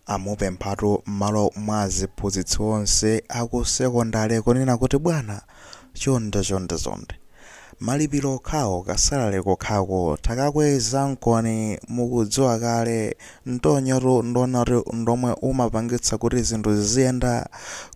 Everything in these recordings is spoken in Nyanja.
Amupemphatu mmalo mwa aziphunzitsi onse aku sekondale kunena kuti bwana chonde chonde chonde malipiro okhawo ka salary kokhako takakwezankoni mukudziwa kale mtonyotu ndiwona kuti ndomwe umapangitsa kuti zinthu ziziyenda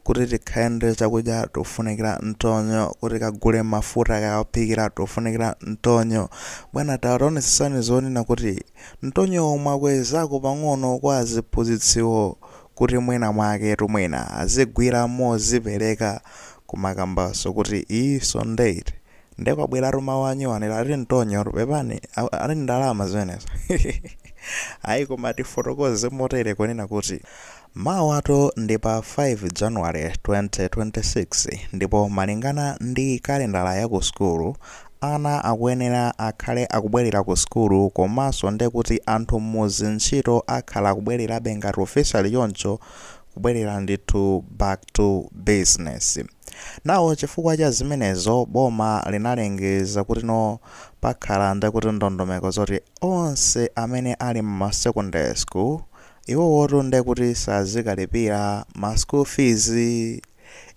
kuti tikhale ndi chakudya tofunikira mtonyo kuti tikagule mafuta kaophikira tofunikira mtonyo bwana tawonetsetsani zonena kuti Mtonyowo mwakwezako pang'ono kwa aziphunzitsiwo kuti mwina mwaketu mwina azigwira mozipereka kumakambanso kuti end of date nde kwabweratu mawu anyuwani lati mtonyotu pepani ati ndalama zimenezo ayi koma tifotokoze motere kunena kuti Mawatu ndi pa 5 January 2026 ndipo malingana ndi kalendala ya ku sukulu, ana akuyenera akhale akubwelera ku sukulu komanso ndekuti anthu mmuzi ntchito akhale akubwelerabe ngati officially choncho kubwelera ndithu back to business. Now chifukwa cha zimenezo boma linalengeza kuti no pakhala ndekuti ndondomeko zoti onse amene ali mma secondary school Iwowotu nde kuti sazikalipira ma school fees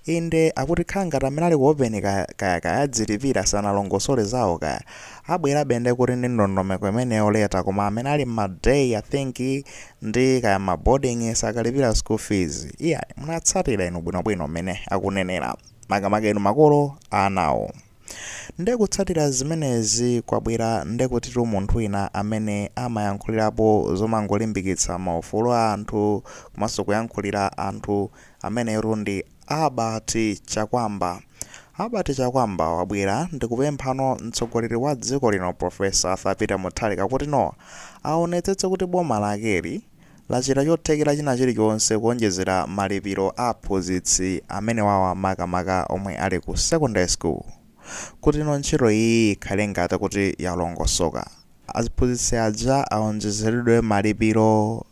inde akuti kukhala ngati amene ali ku open kaya kaya kaya adzilipira sanalongosole zawo kaya abwerabe nde kuti ndi ndondomeko imeneyo later koma amene ali mma day I think ndi kaya mma boarding sakalipira school fees iyayi munatsatira inu bwinobwino mmene akunenera makamaka inu makolo a anawo. Nde kutsatira zimenezi kwabwera ndekutitu munthu wina amene amayankhulirapo zomangolimbikitsa ma ufulu a anthu komanso kuyankhulira anthu ameneyotu ndi Albert Chakwamba. Albert Chakwamba wabwera ndikupemphano mtsogoleri wa dziko lino Prof. Arthur Peter Mutharika kuti no aonetsetse kuti boma lakeli lachita chothekera china chilichonse kuonjezera malipiro a aphunzitsi amenewawa makamaka omwe ali ku secondary school kuti no ntchito iyiyi ikhale ngati kuti yalongosoka aziphunzitsi aja aonjezeredwe malipiro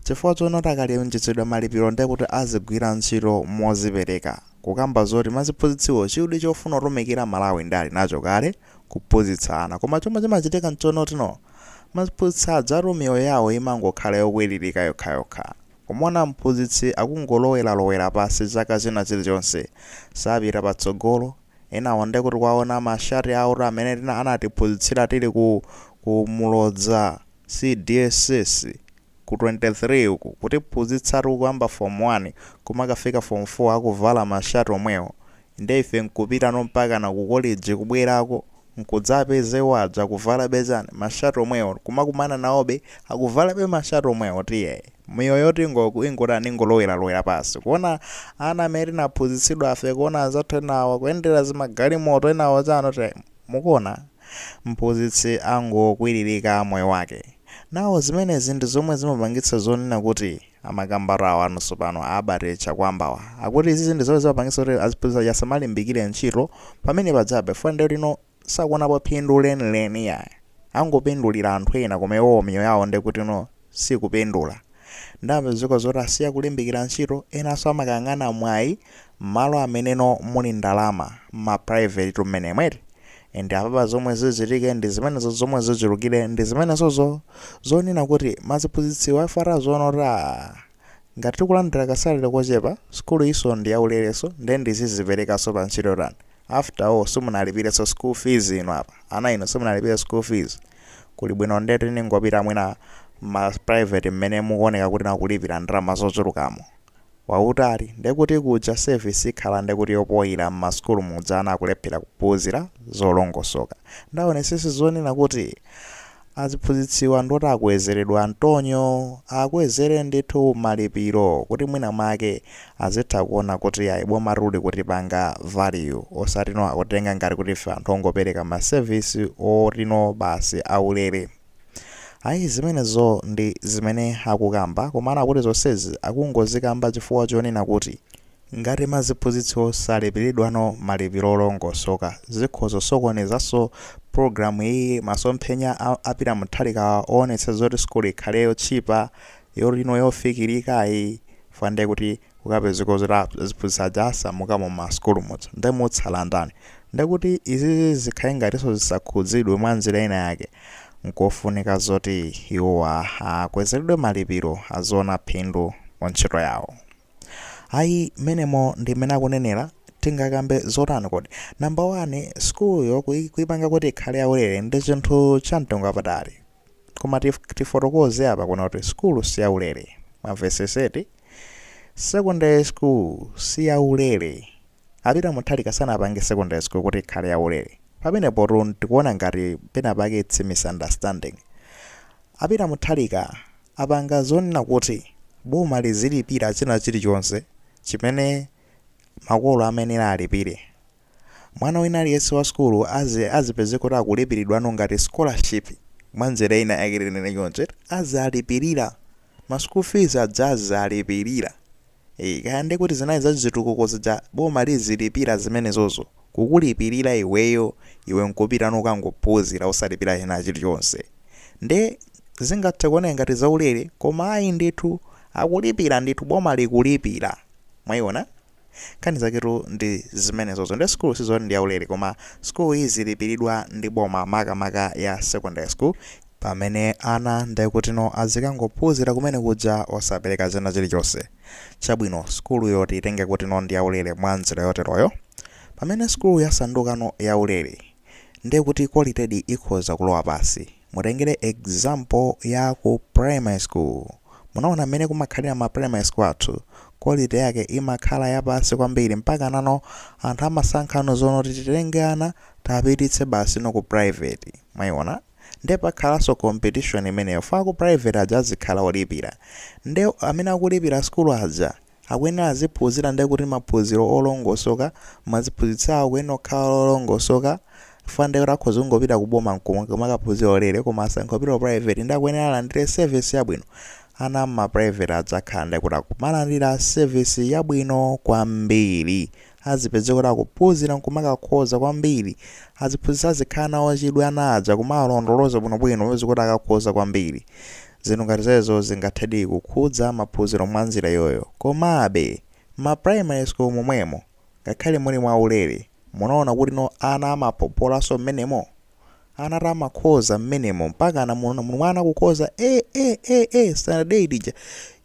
chifukwa chonoti akawonjezeredwa malipiro nde kuti azigwira ntchito mozipereka kukamba zoti maziphunzitsiwo chidwi chofuna kutumikira Malawi nde ali nacho kale kuphunzitsa ana. Koma chomwe chimachitika nchonoti no maziphunzitsi ajatu miyoyo yawo imangokhala yokwiririka yokhayokha. Kumaona mphunzitsi akungoloweralowera pansi chaka china chilichonse, sapita patsogolo, enawo nde kuti kuwaona ma shati awotu amene tina anatiphunzitsira tili ku Muloza CDSS. ku 23 uku kutiphunzitsatu kuyamba form 1 kumakafika form 4 akuvala ma shirt omwewo nde ife nkupitano mpakana ku college kubwerako nkudzapeza iwo aja akuvalabe chani ma shirt omwewo nkumakumana nawobe akuvalabe ma shirt omwewo ndiye miyoyo tingoku ingotani ingoloweralowera pansi kuona ana amene tinaphunzitsidwafe kuona anzathu enawa kuyendera zimagalimoto enawo chani time Mukuona? Mphunzitsi angokwiririka moyo wake. Now, zimenezi ndi zomwe zimapangitsa zonena kuti, amakambatu awa anunsu pano, a Albert Chakwambawa, akuti izizi ndi zomwe zimapangitsa kuti aziphunzitsi aja asamalimbikire ntchito, pamene pajabe, chifukwa ndiye kuti, you know, sakuonapo phindu lenileni iyayi. Angopindulira anthu ena koma iwowo miyoyo yawo ndiye kuti, you know, sikupindula. Nde apezeka zoti asiya kulimbikira ntchito, enanso amakayang'ana mwayi mmalo ameneno muli ndalama, mma private tu mmenemo eti, and apapa zomwe zichitike ndi zimenezo zomwe zichulukire ndi zimenezozo zonena kuti maziphunzitsiwa chifukwa aziona kuti aah ngati tikulandira ka salary kochepa, sukulu yinso ndi yaulerenso nde ndiziziperekanso pa ntchito yotani? after all simunalipirenso school fees inu apa ana inu simunalipire school fees kuli bwino nde tiningopita mwina mma private mmene mukuoneka kuti akulipira ndalama zochulukamo mwautali nde kuti kuja service ikhala nde kuti yopoira mmasukulu muja ana akulephera kuphunzira zolongosoka nde aonetsetse zonena kuti Aziphunzitsiwa ndi oti akwezeredwe mtonyo, akwezere ndithu malipiro kuti mwina mwake azitha kuona kuti yayi bomatu likutipanga value osati no akutitenga ngati kuti ife anthu ongopereka ma service oti no basi aulere. Ayi zimenezo ndi zimene akukamba komano akuti zonsezi akungozikamba chifukwa chonena kuti Ngati maziphunzitsi salipiridwano malipiro olongosoka, zikhoza kusokonezanso pulogalamu iyi. Masomphenya a Peter Mutharikawa owonetsetsa zoti sukulu ikhale yotchipa, you know yofikirikayi fukwa nde kuti kukapezeka zoti aziphunzitsi aja asamuka mu ma sukulu muja nde mutsala ndani? Nde kuti izizi zikhale ngatinso zisakhudzidwe mwa njira ina yake nkofunika zoti iwowa akwezeredwe malipiro aziona phindu mu ntchito yawo. ayi mmenemo ndi mmene akunenera tingakambe zotani kodi namba 1 skuluyo kuipanga kuti ikhale yaulere ndi chinthu cha mtengo wapatali koma tif- tifotokoze apa kunena kuti skulu si yaulere mwamvetsetsa eti secondary school si yaulere a Peter Mutharika sanapange secondary school kuti ikhale yaulere pamenepotu ndikuona ngati penapake its misunderstanding a Peter Mutharika apanga zonena kuti boma lizilipira china chilichonse chimene makolo amayenera alipire. Mwana wina aliyense wa sukulu azipeze kuti akulipiridwano ngati scholarship mwa njira ina yake tinene choncho eti, azalipirira. Ma school fees aja azazalipirira. Eee kaya nde kuti zinali za chitukuko zija boma lizilipira zimenezozo kukulipirira iweyo iwe nkupita nukangophuzira osalipira china chilichonse nde zingathe kuoneka ngati zaulere koma ayi ndithu akulipira ndithu boma likulipira mwaiona nkhani zaketu ndi zimenezozo nde school sizoti ndi yaulere koma school izilipiridwa ndi boma makamaka ya secondary school Pamene ana ndekutino azikangophuzira kumene kuja osapereka china chilichonse. Chabwino sukuluyo tiyitenge kutino ndiyaulere mwa nzira yoteroyo. Pamene sukulu yasandukano yaulere, ndekuti qualitedi ikhoza kulowa pasi. Mutengere example ya ku primary school. Munaona mmene kumakhalira ma primary school athu, quality yake imakhala yapasi kwambiri mpakana no anthu amasankhano zonoti titenge ana tapititse basino ku private. Mwayiona? nde pakhalanso competition imeneyo fo aku private aja azikhala olipira nde amene akulipira sukulu aja akuyenera aziphunzira nde kuti maphunziro olongosoka maziphunzitsi awo akuyenera kukhala olongosoka fo nde kuti akhoza kungopita ku boma kumakaphunzira ulere koma asankha kupita ku private nde akuyenera alandire service yabwino ana mma private aja akhala nde kuti akumalandira service yabwino kwambiri azipeze kuti akuphunzira nkumakakhoza kwambiri aziphunzitsi azikhala nawo chidwi ana aja kumawalondoloza bwinobwino apeze kuti akakhoza kwambiri zinthu ngati zezo zingathedi kukhudza maphunziro mwa nzira iyoyo komabe ma primary school momwemo ngakhale muli mwa ulere munaona kuti no ana amaphopolanso mmenemo ana amakhoza mmenemo mpaka na munaona munthu mwana kukhoza A A A A standard 8 ija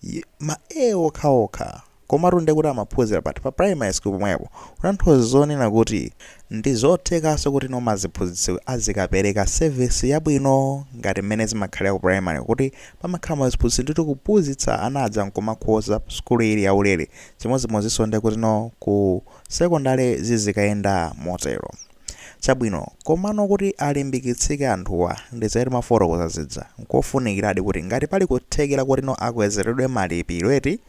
y- ma A okhaokha Komatu nde kuti amaphuzira pati? Pa primary school pomwepo? Kutanthuza zonena kuti ndizothekaso kuti no maziphuzitsi azikapereka service yabwino ngati mmene zimakhalira ku primary kuti pamakhala maziphuzitsi ndithu kuphuzitsa ana aja nkumakhoza sukulu ili yaulere chimodzimodziso nde kuti no ku secondary zizikayenda motero. Chabwino komano kuti alimbikitsike anthuwa ndi za timafotokoza zija nkofunikiradi kuti ngati pali kuthekera kuti no akwezeredwe malipiro eti,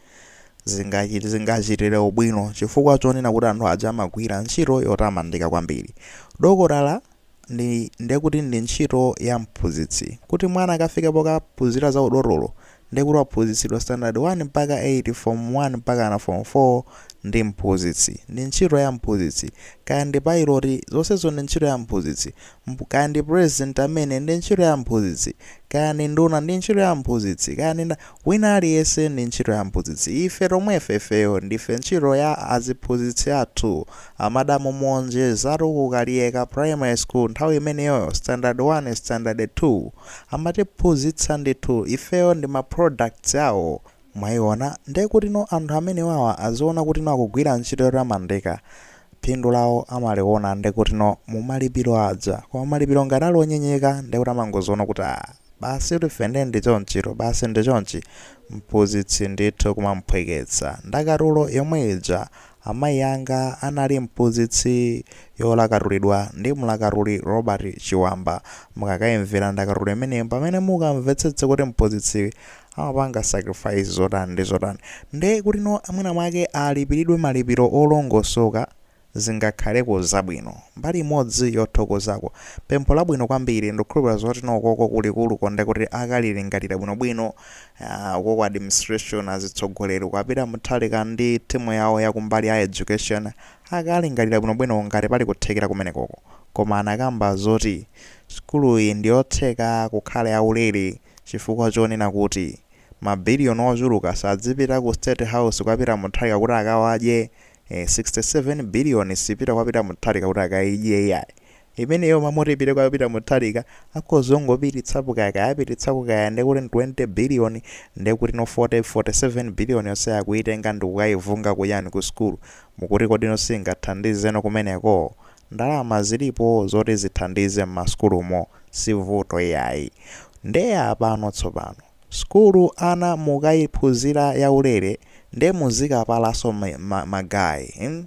zingachi- zingachitire ubwino chifukwa chonena kuti anthu aja amagwira ntchito yotamandika kwambiri dokotala ndi ndekuti ndi ntchito ya mphunzitsi kuti mwana akafike pokaphunzira za udotolo ndekuti waphunzitsidwa standard 1 mpaka 8 form 1 mpaka na form 4 ndi mphunzitsi ndi ntchito ya mphunzitsi kaya ndi pilot zonsezo ndi ntchito ya mphunzitsi Mp- kaya ndi president amene ndi ntchito ya mphunzitsi kaya ndi nduna ndi ntchito ya mphunzitsi kaya ndi nda- Wina aliyense ndi ntchito ya mphunzitsi. Ife tomwefe, ifeyo ndife ntchito ya aziphunzitsi athu. A Madam Monjeza tu ku Kaliyeka Primary School nthawi imeneyoyo standard 1, standard 2 amatiphunzitsa ndithu. Ifeyo ndi ma products awo. Mwaiona? Nde kutino anthu amenewawa aziona kutino akugwira ntchito yotamandika. phindu lawo amaliona ndekutino mumalipiro aja koma malipiro ngati ali onyozeka ndekuti amangoziona kuti aah basitu ife nde ndichonchitu basi ndichonchi mphuzitsi ndithu kumamuphweketsa ndakatulo yomwe ija amayi anga anali mphuzitsi yolakatulidwa ndi mlakatuli Robert Chiwamba mukakaimvera ndakatulo imeneyi mpamene mukamvetsetse kuti mphuzitsi amapanga sacrifice zotani ndi zotani nde kutino mwina mwake alipilidwe malipiro olongosoka zingakhaleko zabwino mbali imodzi yothokozako pempho labwino kwambiri ndikukhulupilira zotino ukoko kulikuluko ndekuti akalilingalira bwinobwino uh, ukoko administration azitsogoleri kwa Peter Mutharika ndi timu yawo yakumbali ya education akalingalira bwinobwino ngati pali kuthekera kumenekoko koma anakamba zoti sukuluyi ndiyotheka kukhala yaulere Chifukwa chonena kuti ma billion ochuluka sadzipita ku state house kwa Peter Mutharika kuti akawadye, ee 67 billion sipita kwa Peter Mutharika kuti akayidye iyayi, imeneyo mmaloti ipite kwa Peter Mutharika akhoza ongopititsapo kaya kaya apititsako kaya ndekuti ndi 20 billion ndekutino 40, 47 billion yonseyo akuyitenga ndikukayivunga kuyani ku school mukuti kodi no singathandize no kumeneko? Ndalama zilipo zoti zithandize mmasukulumo si vuto iyayi. Nde apano tsopano. Sukulu ana mukaiphunzira yaulere nde muzikapalanso ma ma ma guy mm?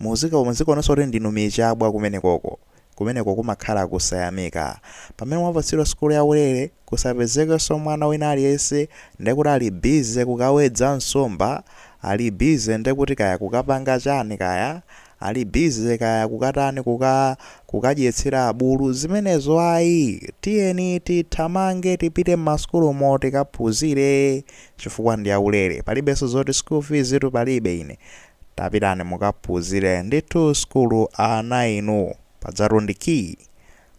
Muzika muzikaonetsa kuti ndinu michabwa kumenekoko. Kumeneko kumakhala kusayamika. Pamene mwapatsidwa sukulu yaulere kusapezekenso mwana wina aliyense ndekuti ali busy kukawedza nsomba, ali busy ndekuti kaya kukapanga chani kaya, Ali busy kaya kukatani kuka kukadyetsera abulu zimenezo ayi tiyeni tithamange tipite mmasukulumo tikaphuzire chifukwa ndi yaulere palibenso zoti school fees tu palibe ine tapitani mukaphuzire ndithu sukulu ana inu padzatu ndi key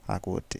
akuti